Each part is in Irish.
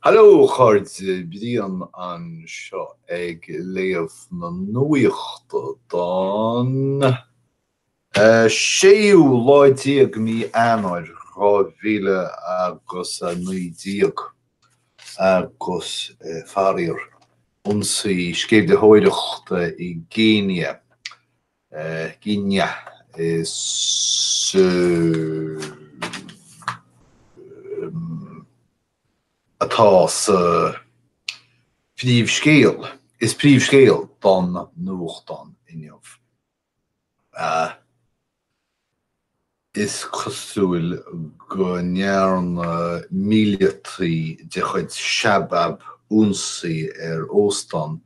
Hallo a chairde, Brian anseo ag léamh na nuachta don séú lá déag mí Eanáir dhá mhíle agus a naoi déag agus faraor ionsaí sceimhlitheoireachta i gCéinia gCéinia is atá sa phríomhscéal, is príomhscéal don nuachtán Inniu. Is cosúil go ndearna míleataí de chuid Shabab ionsaí ar óstán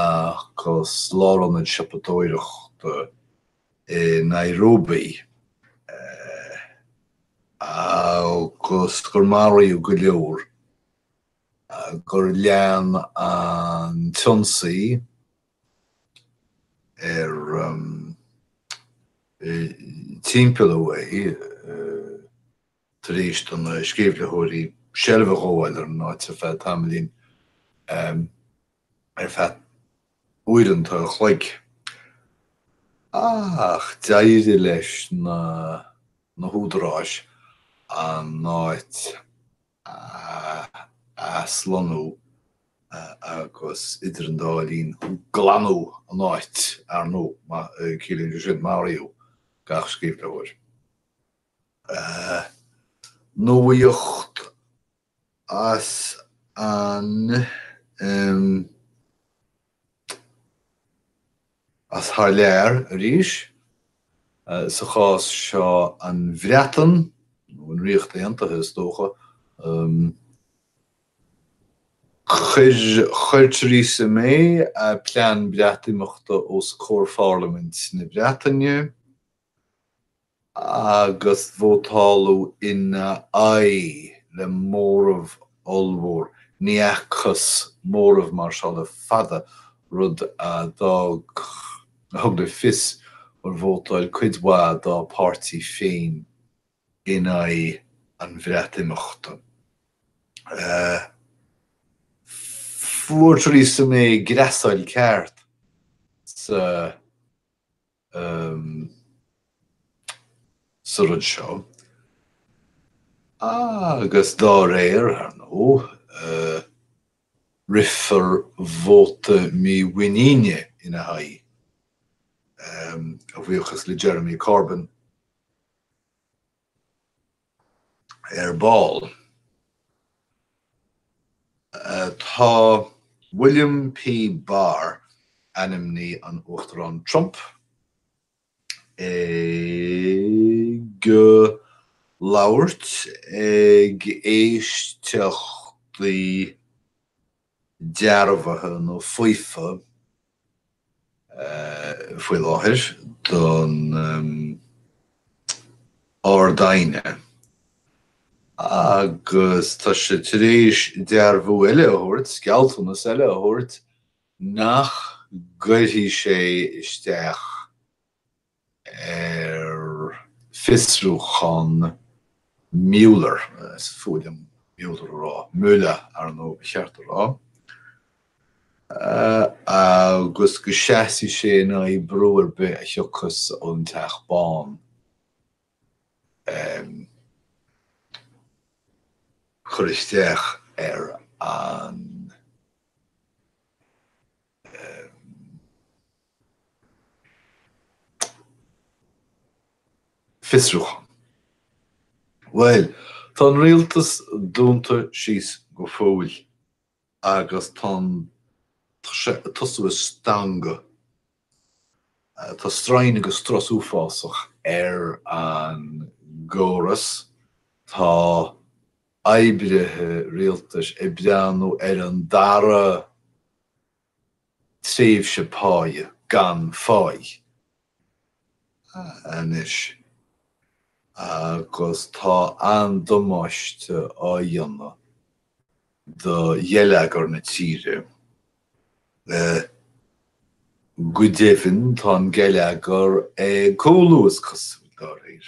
agus lárionad siopadóireachta i Nairobi agus gur maraíodh go leor, gur lean an t-ionsaí, ar timpeall a haon tar éis do na sceimhlitheoirí seilbh a ghabháil ar an áit ar feadh tamaillín, ar feadh uaireanta an chloig. ach d'éirigh leis na húdaráis an áit a aslonnú agus, idir an dá linn, glanadh an áit, ar ndóigh. Ciallaíonn sé sin, maraíodh gach sceimhlitheoir. Nuacht as an. As thar lear, arís, sa chás seo an Bhreatain, nó an Ríocht Aontaithe is dócha, chuir Theresa May a plean Breatimeachta os comhair Pharlaimint na Breataine. agus vótáladh ina aghaidh le móramh ollmhór, ní fhacthas móramh mar seo le fada, rud a d'fhág, a thug le fios gur vótáil cuid mhaith dá páirtí féin in aghaidh an Bhreatimeachta. Fuair Theresa May greasáil ceart sa. sa rud seo, agus dá réir, ar ndóigh, rithfear vóta mímhuiníne ina haghaidh, a bhuíochas le Jeremy Corbyn. Ar ball, atá William P. Barr, ainmní an Uachtaráin Trump, ag labhairt ag éisteachtaí dearbhaithe nó faofa faoi láthair don Ard-Aighne agus tá sé tar éis dearbhú eile a thabhairt, gealltanas eile a thabhairt, nach gcuirfidh sé isteach. ar fiosrúchán Mueller, is fuath liom Mueller a rá, Müller, ar ndóigh ba cheart a rá, agus go seasfaidh sé in aghaidh brú ar bith a thiocfas ón Teach Bán cur isteach ar an fiosrúchán. Bhuel, tá an rialtas dúnta síos go fóill agus tá an, tá sé ag tosú ag stangadh, tá strain agus strus uafásach ar an gcóras, tá oibrithe rialtais ag breathnú ar an dara tréimhse páighe gan pháighe anois agus tá an-damáiste á dhéanamh do gheilleagar na tíre. Go deimhin tá an geilleagar ag cúlú is cosúil, de réir.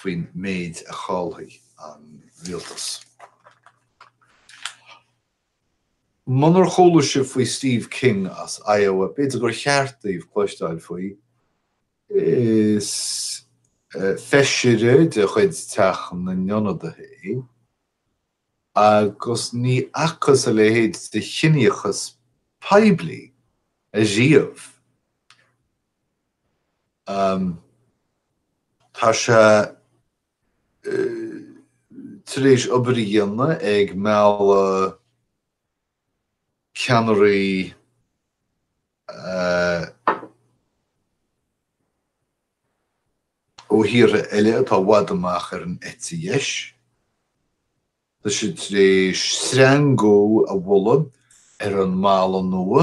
faoin méid a chaillfidh an rialtas. Munar chuala sibh faoi Steve King as Iowa, b'fhéidir gur cheart daoibh cloisteáil faoi. Is feisire de chuid Teach na nIonadaithe é, agus ní fhacthas a leithéid de chiníochas poiblí ariamh Tá sé tar éis obair a dhéanamh ag mealladh ceannairí ó thíortha eile atá i bhfad amach ar an eite dheis. Tá sé tar éis sreangú a mholadh ar an mballa nua.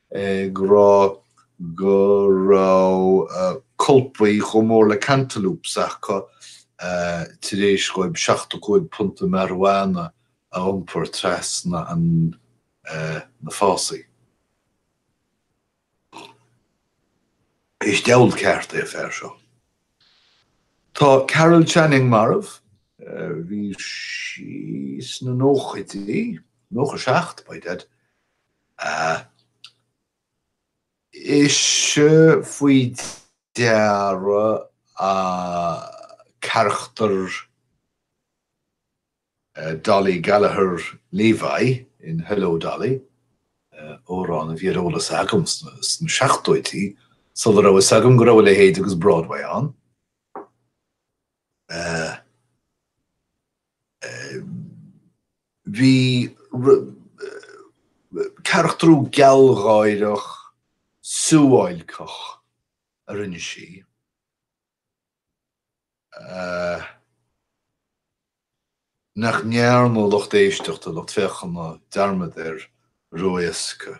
ag rá go raibh colpaí chomh mór le cantaloupes acu tar éis dhóibh seachtó cúig punta marijuana a iompar trasna na fásaí. Is diabhal ceart é an fear seo. Tá Carol Channing marbh, bhí sí sna nóchaidí, 97 by dad. Ise faoi deara an carachtar Dolly Gallagher Levi in Hello, Dolly! amhrán a bhí ar eolas agam sna seachtóidí sula raibh fhios agam go raibh a leithéid agus Broadway ann. bhí carachtrú gealgháireach suáilceach a rinne sí nach ndearna lucht éisteachta, lucht féachana dearmad air ró-éasca.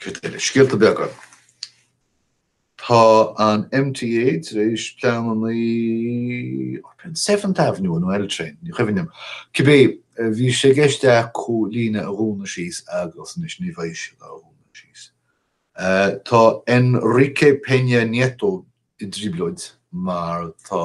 Cad eile? Scéalta beaga. Tá an MTA tar éis pleananna i Penn Seventh Avenue nó L Train, ní cuimhin liom. Cibé, bhí sé i gceist acu an líne a dhúnadh síos agus anois ní bheidh sé dá dhúnadh síos. Tá Enrique Peña Nieto i dtrioblóid mar tá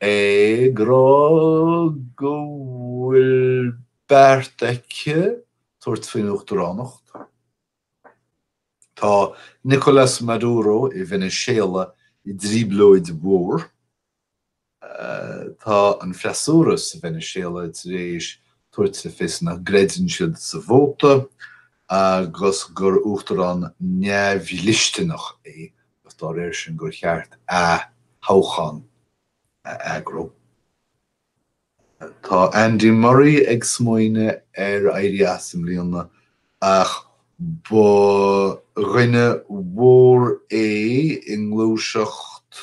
Ag rá go bhfuil beart aici tabhairt faoin Uachtaránacht, tá Nicolás Maduro i Veiniséala i dtrioblóid mhór. Tá an freasúra sa Veiniséala tar éis tabhairt le fios ná creideann siad sa vóta agus gur uachtarán neamhdhlisteanach é. agus dá réir sin gur cheart ath-thoghchán a eagrú. Tá Andy Murray ag smaoineamh ar éirí as i mbliana ach ba dhuine mór é i ngluaiseacht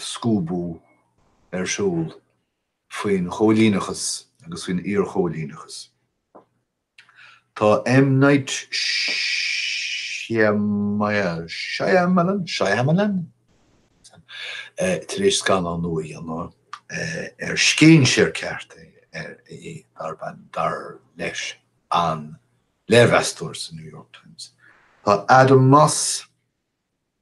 scuabadh ar shiúl faoin chóilíneachas agus faoin iarchóilíneachas. Tá M. Night Shyamalan, Shyamalan? tar éis scannán nua a dhéanamh ar scéinséir ceart é darb ainm, dar leis an léirmheastóir sa New York Times. Tá Adam Moss.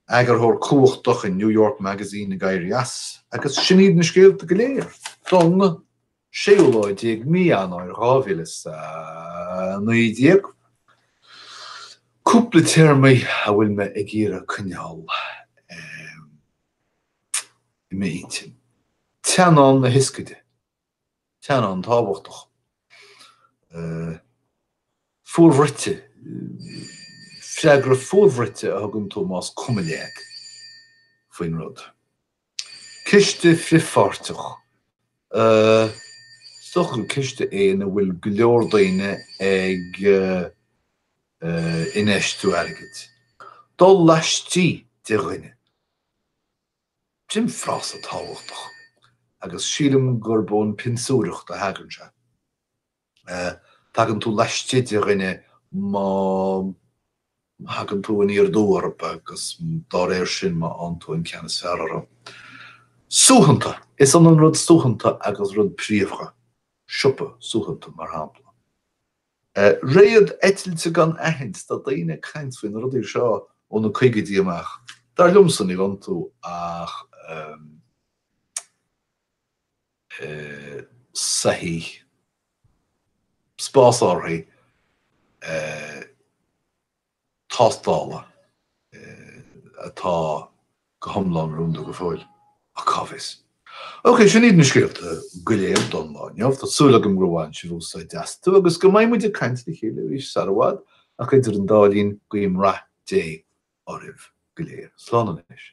eagarthóir cumhachtach in New York Magazine ag éirí as, agus sin iad na scéalta go léir. Don séú lá déag mí Eanáir dhá mhíle is a naoi déag. Cúpla téarmaí a bhfuil mé ag iarraidh coinneáil i m'intinn. Teannán na hioscaide. teannán tábhachtach, fuarbhruite, freagra fuarbhruite a thugann tú más cuma leat faoin rud, ciste frithpháirteach, is dócha gur ciste é ina bhfuil go leor daoine ag infheistiú airgid, dul laistigh de dhuine. Sin frása tábhachtach, agus sílim gurb ón bpionsóireacht a thagann sé. Tagann tú laistigh de dhuine má thagann tú aniar aduaidh orthu agus dá réir sin má fhaigheann tú an ceann is fearr orthu. Suaitheanta, is ionann rud suaitheanta agus rud príomha, siopa suaitheanta mar shampla. Réad eitilte gan aithint, tá daoine ag caint faoi na rudaí seo ó na caogaidí amach. Dar liomsa, níl iontu ach soithigh, spásárthaigh. tástála atá go hiomlán rúnda go fóill, ach cá bhfios? OK, sin iad na scéalta go léir don lá inniu. Tá súil agam gur bhain sibh úsáid astu agus go mbeidh muid ag caint le chéile arís sar i bhfad, ach idir an dá linn, guím rath Dé oraibh go léir. Slán anois.